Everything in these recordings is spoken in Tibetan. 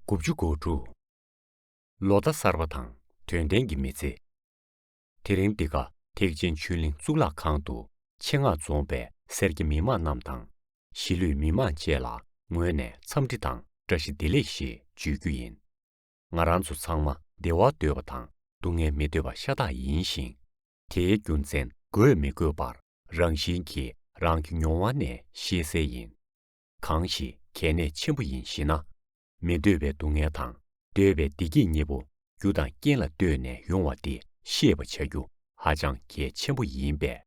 དགུ་བཅུ་གོ་དྲུག། ལོ་ཟླ་གསར་པ་དང་དོན་ལྡན་གྱི་མི་ཚེ། དེ་རིང་འདི་ག་ཐེག་ཆེན་ཆོས་གླིང་གཙུག་ལག་ཁང་དུ་ཆེད་མངགས་རྫོང་པའི་སེར་སྐྱ་མི་དམངས་རྣམས་དང་གཞིས་ལུས་མི་དམངས་བཅས་ལ་ངོས་ནས་འཚམས་འདྲི་དང་བཀྲ་ཤིས་བདེ་ལེགས་ཞེས་བརྗོད་རྒྱུ་ཡིན། ང་རང་ཚོ་ཚང་མ་བདེ་བ་འདོད་པ་དང་སྡུག་བསྔལ་མི་འདོད་པ་ཤ་སྟག་ཡིན་ཞིང། དེའི་རྒྱུ་མཚན་དགོས་མི་དགོས་པར་རང་བཞིན་གྱིས་རང་གི་མྱོང་བ་ནས་ཤེས་གསལ་ཡིན། གང་ཞིག་གལ་གནད་ཆེན་པོ་ཡིན་ཞེ་ན། མི་འདོད་པའི་སྡུག་བསྔལ་དང་འདོད་པའི་བདེ་སྐྱིད་གཉིས་པོ་རྒྱུ་དང་རྐྱེན་ལ་ལྟོས་ནས་ཡོང་བ་འདི་ཤེས་པ་བྱ་རྒྱུ་ཧ་ཅང་གལ་ཆེན་པོ་ཡིན་པས།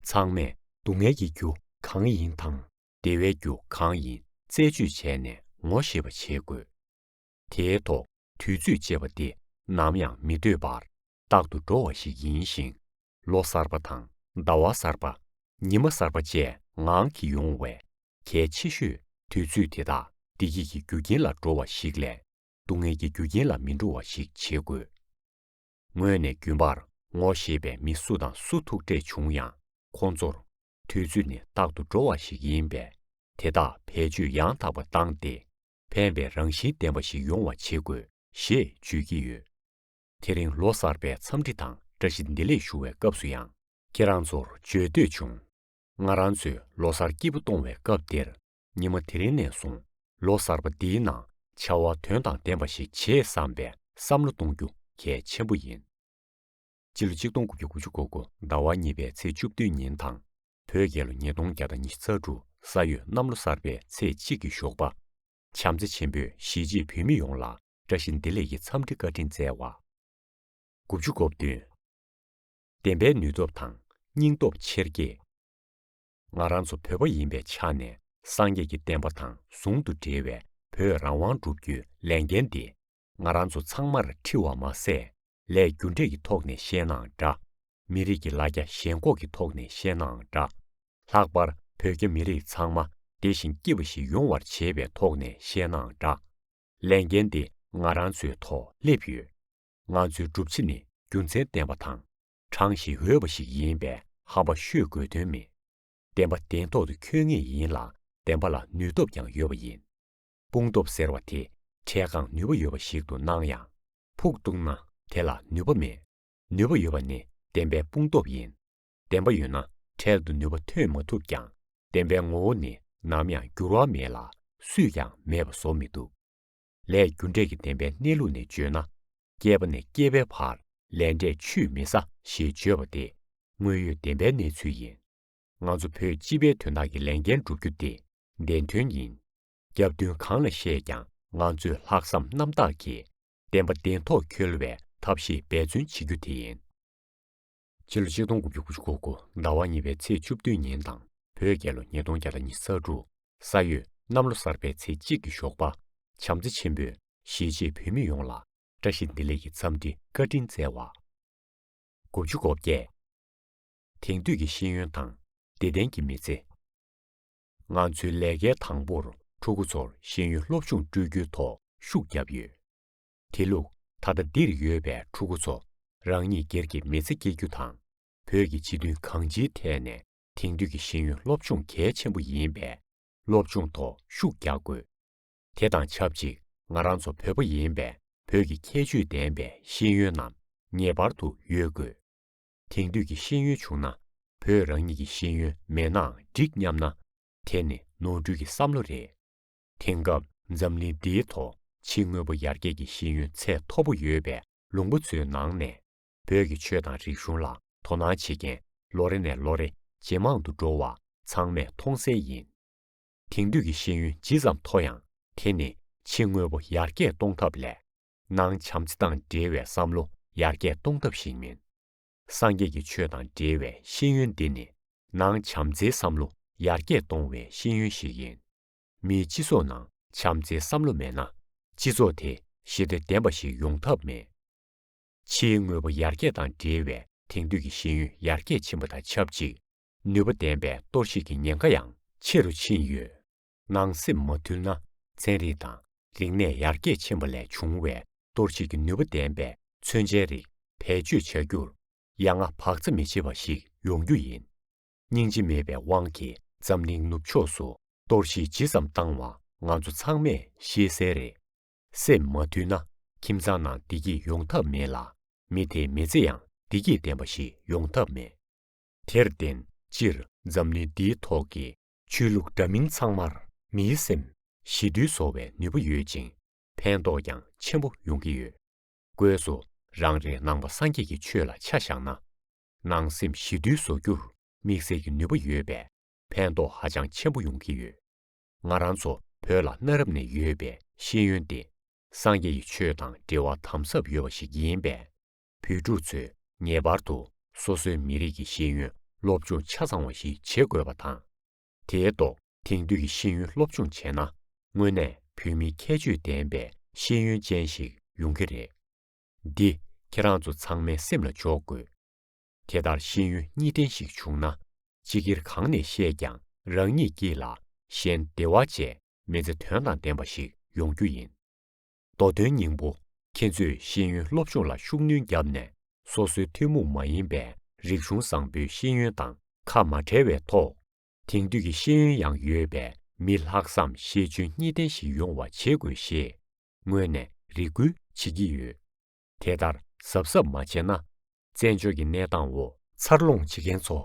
ཚང་མས་སྡུག་བསྔལ་གྱི་རྒྱུ་གང་ཡིན་དང་བདེ་བའི་རྒྱུ་གང་ཡིན་རྩད་གཅོད་བྱས་ནས་ངོ་ཤེས་པ་བྱེད་དགོས། དེའི་ཐོག་དུས་ཚོད་ཅེས་པ་དེ་ནམ་ཡང་མི་སྡོད་པར་རྟག་ཏུ་འགྲོ་བ་ཞིག་ཡིན་ཞིང། ལོ་གསར་པ་དང་ཟླ་བ་གསར་པ། ཉི་མ་གསར་པ་བཅས་ངང་གིས་ཡོང་བས་གལ་ཆེ་ཤོས་དུས་ཚོད་དེ་དག་བདེ་སྐྱིད་ཀྱི་རྒྱུ་རྐྱེན་ལ་འགྲོ་བ་ཞིག་ལས་སྡུག་བསྔལ་གྱི་རྒྱུ་རྐྱེན་ལ་མི་འགྲོ་བ་ཞིག་བྱེད་དགོས། ངོས་ནས་རྒྱུན་པར་ངོ་ཤེས་པའི་མི་སུ་དང་སུ་ཐུག་འཕྲད་བྱུང་ཡང་ཁོང་ཚོར་དུས་ཚོད་ནི་རྟག་ཏུ་འགྲོ་བ་ཞིག་ཡིན་པས་དེ་དག་བེད་སྤྱོད་ཡང་དག་པ་བཏང་སྟེ་ཕན་པའི་རང་བཞིན་ལྡན་པ་ཞིག་ཡོང་བ་བྱེད་དགོས་ཞེས་བརྗོད་ཀྱི་ཡོད། དེ་རིང་ལོ་གསར་པའི་འཚམས་འདྲི་དང་བཀྲ་ཤིས་བདེ་ལེགས་ཞུ་བའི་སྐབས་སུ་ཡང། ཁྱེད་རང་ཚོར་བརྗོད་འདོད་བྱུང། ང་རང་ཚོས་ལོ་སར་སྐྱིད་པོ་གཏོང་བའི་སྐབས་དེར་ཉི་མ་དེ་རིང་ནས་བཟུང་ལོ་གསར་པ་འདིའི་ནང་བྱ་བ་དོན་དང་ལྡན་པ་ཞིག་བྱེད་བསམ་པའི་བསམ་བློ་གཏོང་རྒྱུ་གལ་ཆེན་པོ་ཡིན། སྤྱི་ལོ་ཆིག་སྟོང་དགུ་བརྒྱ་དགུ་ཅུ་གོ་དགུ་ཟླ་བ་གཉིས་པའི་ཚེས་བཅུ་བདུན་ཉིན་དང། བོད་རྒྱལ་ལོ་ཉིས་སྟོང་བརྒྱ་དང་ཉི་ཤུ་རྩ་དྲུག་ས་ཡོས་གནམ་ལོ་གསར་པའི་ཚེས་གཅིག་གི་ཞོགས་པ། བྱམས་བརྩེ་ཆེན་པོས་གཞིས་བྱེས་བོད་མི་ཡོངས་ལ་བཀྲ་ཤིས་བདེ་ལེགས་ཀྱི་འཚམས་འདྲི་བཀའ་དྲིན་སྩལ་བ། དགུ་བཅུ་གོ་བདུན། བདེན་པའི་ནུས་སྟོབས་དང་སྙིང་སྟོབས་ཆེར་སྐྱེད། ང་རང་ཚོ་བོད་པ་ཡིན་པའི་ཆ་ནས་སངས་རྒྱས་ཀྱི་བསྟན་པ་དང་ཟུང་དུ་འབྲེལ་བའི་བོད་རང་དབང་བསྒྲུབ་རྒྱུའི་ལས་འགན་འདི། ང་རང་ཚོ་ཚང་མར་འཁྲི་བ་མ་ཟད་ལས་རྒྱུ་འབྲས་ཀྱི་ཐོག་ནས་བཤད་ནའང་འདྲ། མི་རིགས་ཀྱི་ལ་རྒྱ་ཞེན་ཁོག་གི་ཐོག་ནས་བཤད་ནའང་འདྲ། ལྷག་པར་བོད་རྒྱ་མི་རིགས་ཚང་མ་བདེ་ཞིང་སྐྱིད་པ་ཞིག་ཡོང་བར་བྱེད་པའི་ཐོག་ནས་བཤད་ནའང་འདྲ། ལས་འགན་འདི་ང་རང་ཚོའི་ཐོག་སླེབས་ཡོད། ང་ཚོའི་སྒྲུབ་བྱེད་ནི་རྒྱུ་མཚན་ལྡན་པ་དང། དྲང་ཞིང་འོས་པ་ཞིག་ཡིན་པས་ཧམ་པ་ཤོད་དགོས་དོན་མེད། བདེན་པ་བདེན་ཐོག་ཏུ་འཁྱོལ་ངེས་ཡིན་ལ་བདེན་པ་ལ་ནུས་སྟོབས་ཀྱང་ཡོད་པ་ཡིན། དཔུང་སྟོབས་ཟེར་བ་དེ་འཕྲལ་གང་ནུས་པ་ཡོད་པ་ཞིག་ཏུ་སྣང་ཡང། ཕུགས་གཏུགས་ན་དེ་ལ་ནུས་པ་མེད། ནུས་པ་ཡོད་པ་ནི་བདེན་པའི་དཔུང་སྟོབས་ཡིན། བདེན་པ་ཡོད་ན་འཕྲལ་དུ་ནུས་པ་ཐོན་མ་ཐུབ་ཀྱང་བདེན་པའི་ངོ་བོ་ནི་ནམ་ཡང་འགྱུར་བ་མེད་ལ་སུས་ཀྱང་མེད་པ་བཟོ་མི་ཐུབ། ལས་རྒྱུ་འབྲས་ཀྱི་བདེན་པའི་གནས་ལུགས་ནས་བརྗོད་ན། སྐྱེས་པ་ནས་སྐྱེས་པའི་བར་ལས་འབྲས་ཆུད་མི་ཟ་ཞེས་བརྗོད་པ་དེ་དངོས་ཡོད་བདེན་པའི་གནས་ཚུལ་ཡིན། ང་ཚོ་བོད་སྤྱི་པའི་དོན་དག་གི་ལས་འགན་བསྒྲུབ་རྒྱུ་དེ་བདེན་དོན་ཡིན། རྒྱབ་མདུན་གང་ལ་བཤད་ཀྱང་ང་ཚོས་ལྷག་བསམ་རྣམ་དག་གིས་བདེན་པ་བདེན་ཐོག་འཁྱོལ་བའི་ཐབས་ཤེས་འབད་བརྩོན་བྱེད་རྒྱུ་དེ་ཡིན། ཕྱི་ལོ་ཆིག་སྟོང་དགུ་བརྒྱ་དགུ་ཅུ་གོ་དགུ་ཟླ་བ་གཉིས་པའི་ཚེས་བཅུ་བདུན་ཉིན་དང་བོད་རྒྱལ་ལོ་ཉིས་སྟོང་བརྒྱ་དང་ཉི་ས་དྲུག་ས་ཡོས་གནམ་ལོ་གསར་པའི་ཚེས་གཅིག་གི་ཞོགས་པ་བྱམས་བརྩེ་ཆེན་པོས་གཞིས་བྱེས་བོད་མི་ཡོངས་ལ་བཀྲ་ཤིས་བདེ་ལེགས་ཀྱི་འཚམས་འདྲི་བཀའ་དྲིན་སྩལ་བ། དགུ་བཅུ་གོ་བརྒྱད། དེང་དུས་ཀྱི་ཤེས་ཡོན་དང་བདེ་ལྡན་གྱི་མི་ཚེ། ང་ཚོའི་ལས་ཀའི་དང་པོར་ཕྲུ་གུ་ཚོར་ཤེས་ཡོན་སློབ་སྦྱོང་སྤྲོད་རྒྱུའི་ཐོག་ཤུགས་བརྒྱབ་ཡོད། དེ་ལུགས་ད་ལྟ་འདིར་ཡོད་པའི་ཕྲུ་གུ་ཚོ་རང་ཉིད་སྒེར་གྱི་མི་ཚེ་སྐྱེལ་རྒྱུ་དང་བོད་ཀྱི་སྤྱི་དོན་གང་ཅིའི་ཐད་ནས་དེང་དུས་ཀྱི་ཤེས་ཡོན་སློབ་སྦྱོང་གལ་ཆེན་པོ་ཡིན་པས་སློབ་སྦྱོང་ཐོག་ཤུགས་རྒྱག་དགོས། དེ་དང་ཆབས་ཅིག་ང་རང་ཚོ་བོད་པ་ཡིན་པས་བོད་ཀྱི་ཁྱད་ཆོས་ལྡན་པའི་ཤེས་ཡོན་རྣམས་ངེས་པར་དུ་ཡོད་དགོས། དེང་དུས་ཀྱི་ཤེས་ཡོན་བྱུང་ན་བོད་རང་ཉིད་ཀྱི་ཤེས་ཡོན་མེད་ནའང་འགྲིག་སྙམ་ན། དེ་ནི་ནོར་འཁྲུལ་གྱི་བསམ་བློ་རེད། དེང་སྐབས་འཛམ་གླིང་འདིའི་ཐོག་ཕྱི་དངོས་པོ་ཡར་རྒྱས་ཀྱི་ཤེས་ཡོན་ཚད་མཐོ་པོ་ཡོད་པའི་ལུང་པ་ཚོའི་ནང་ནས་བོད་ཀྱི་ཆོས་དང་རིག་གཞུང་ལ་དོ་སྣང་བྱེད་མཁན་ལོ་རེ་ནས་ལོ་རེ་ཇེ་མང་དུ་འགྲོ་བ་ཚང་མས་མཐོང་གསལ་ཡིན། དེང་དུས་ཀྱི་ཤེས་ཡོན་ཇི་ཙམ་མཐོ་ཡང་དེ་ནི་ཕྱི་དངོས་པོ་ཡར་རྒྱས་གཏོང་ཐབས་ལས་ནང་བྱམས་བརྩེ་དང་འབྲེལ་བའི་བསམ་བློ་ཡར་རྒྱས་གཏོང་ཐབས་ཤིག་མིན། སངས་རྒྱས་ཀྱི་ཆོས་དང་འབྲེལ་བའི་ཤེས་ཡོན་འདི་ནི་ནང་བྱམས་བརྩེའི་བསམ་བློ་ཡར་རྒྱས་གཏོང་བའི་ཤེས་ཡོན་ཞིག་ཡིན། མིའི་སྤྱི་ཚོགས་ནང་བྱམས་བརྩེའི་བསམ་བློ་མེད་ན་སྤྱི་ཚོགས་དེ་ཞི་བདེ་ལྡན་པ་ཞིག་ཡོང་ཐབས་མེད། ཕྱིའི་དངོས་པོ་ཡར་རྒྱས་དང་འབྲེལ་བའི་དེང་དུས་ཀྱི་ཤེས་ཡོན་ཡར་རྒྱས་ཕྱིན་པ་དང་ཆབས་ཅིག་ནུས་པ་ལྡན་པའི་གཏོར་བཤིག་གི་ཉེན་ཁ་ཡང་ཆེ་རུ་ཕྱིན་ཡོད། ནང་སེམས་མ་དུལ་ན་ཚན་རིག་དང་རིག་གནས་ཡར་རྒྱས་ཕྱིན་པ་ལས་བྱུང་བའི་གཏོར་བཤིག་གི་ནུས་པ་ལྡན་པའི་མཚོན་ཆའི་རིགས་བེད་སྤྱོད་བྱ་རྒྱུར་ཡ་ང་བག་ཚ་མི་བྱེད་པ་ཞིག་ཡོང་རྒྱུ་ཡིན། སྙིང་རྗེ་མེད་པའི་དབང་གིས་འཛམ་གླིང་ནུབ་ཕྱོགས་སུ་གཏོར་བཤིག་ཇི་ཙམ་བཏང་བ་ང་ཚོ་ཚང་མས་ཤེས་གསལ་རེད། སེམས་མ་དུལ་ན་ཁྱིམ་ཚང་ནང་བདེ་སྐྱིད་ཡོང་ཐབས་མེད་ལ་མི་དེའི་མི་ཚེ་ཡང་བདེ་སྐྱིད་ལྡན་པ་ཞིག་ཡོང་ཐབས་མེད། དེར་བརྟེན་སྤྱིར་འཛམ་གླིང་འདིའི་ཐོག་གི་ཆོས་ལུགས་འདྲ་མིན་ཚང་མར་མིའི་སེམས། ཞི་དུལ་བཟོ་བའི་ནུས་པ་ཡོད་ཅིང་ཕན་ཐོགས་ཀྱང་ཆེན་པོ་ཡོང་གི་ཡོད། སྒོས་སུ་རང་རེའི་ནང་པ་སངས་རྒྱས་ཀྱི་ཆོས་ལ་ཆ་བཞག་ན། ནང་སེམས་ཞི་དུལ་བཟོ་རྒྱུར་དམིགས་བསལ་གྱི་ནུས་པ་ཡོད་པས་ཕན་ཐོགས་ཧ་ཅང་ཆེན་པོ་ཡོང་གི་ཡོད། ང་རང་ཚོ་བོད་ལ་གནའ་རབས་ནས་ཡོད་པའི་ཤེས་ཡོན་ཏེ། སངས་རྒྱས་ཀྱི་ཆོས་དང་འབྲེལ་བ་དམ་ཟབ་ཡོད་པ་ཞིག་ཡིན་པས། བོད་ཕྲུག་ཚོས་ངེས་པར་དུ་སོ་སོའི་མི་རིགས་ཀྱི་ཤེས་ཡོན་སློབ་སྦྱོང་ཆ་ཚང་བ་ཞིག་བྱེད་དགོས་པ་དང། དེའི་ཐོག་དེང་དུས་ཀྱི་ཤེས་ཡོན་སློབ་སྦྱོང་བྱས་ན་དངོས་གནས་བོད་མིའི་ཁྱད་ཆོས་ལྡན་པའི་ཤེས་ཡོན་ཅན་ཞིག་ཡོང་གི་རེད། འདི་ཁྱེད་རང་ཚོ་ཚང་མའི་སེམས་ལ་འཇོག་དགོས། དེ་ལྟར་ཤེས་ཡོན་གཉིས་ལྡན་ཞིག་བྱུང་ན་སྤྱི་སྒེར་གང་ནས་བཤད་ཀྱང་རང་ཉིད་ཀྱིས་ལ་གཞན་བདེ་བ་བཅས་མི་ཚེ་དོན་དང་ལྡན་པ་ཞིག་ཡོང་རྒྱུ་ཡིན། མདོ་དོན་སྙིང་པོ། ཁྱེད་ཚོས་ཤེས་ཡོན་སློབ་སྦྱོང་ལ་ཤུགས་སྣོན་བརྒྱབ་ནས་སོ་སོའི་ཐུན་མོང་མ་ཡིན་པའི་རིག་གཞུང་བཟང་པོའི་ཤེས་ཡོན་དང་ཁ་མ་བྲལ་བའི་ཐོག། དེང་དུས་ཀྱི་ཤེས་ཡོན་ཡང་ཡོད་པའི་མི་ལྷག་བསམ་ཤེས་འཇོན་གཉིས་ལྡན་ཞིག་ཡོང་བ་བྱེད་དགོས་ཞེས་སྔོན་ནས་རེ་སྐུལ་བྱེད་ཀྱི་ཡོད། དེ་ལྟར་གཟབ་གཟབ་མ་བྱས་ན། བཙན་བྱོལ་གྱི་གནས་སྟངས་འོག་འཚར་ལོངས་བྱེད་མཁན་ཚོ་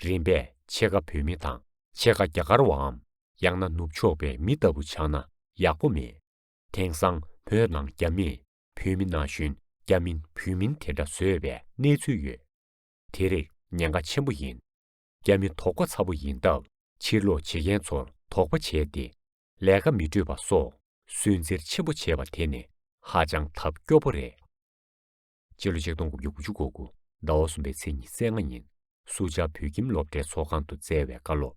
རིམ་པས་ཕྱེད་ཀ་བོད་མི་དང་ཕྱེད་ཀ་རྒྱ་གར་བའམ་ཡང་ན་ནུབ་ཕྱོགས་པའི་མི་ལྟ་བུ་ཆགས་ན་ཡག་པོ་མེད། དེང་སང་བོད་ནང་རྒྱ་མི་བོད་མི་ན་གཞོན་རྒྱ་མིན་བོད་མིན་དེ་འདྲ་བཟོས་པའི་གནས་ཚུལ་ཡོད། དེ་རིགས་ཉེན་ཁ་ཆེན་པོ་ཡིན། རྒྱ་མི་དོགས་པ་ཚ་པོ་ཡིན་སྟབས་ཕྱིར་ལོག་བྱེད་མཁན་ཚོར་དོགས་པ་བྱས་ཏེ་ལས་ཀ་མི་སྤྲོད་པ་སོགས་སུན་གཙེར་ཆེན་པོ་བྱས་པ་དེ་ནི་ཧ་ཅང་ཐབས་སྐྱོ་པོ་རེད། སྤྱི་ལོ་ཆིག་སྟོང་དགུ་བརྒྱ་དགུ་ཅུ་གོ་དགུ་ཟླ་བ་གསུམ་པའི་ཚེས་ཉི་ཚེ་ལྔ་ཉིན་སུ་ཇཱ་བོད་ཁྱིམ་སློབ་གྲྭའི་ཚོགས་ཁང་དུ་སྩལ་བའི་བཀའ་སློབ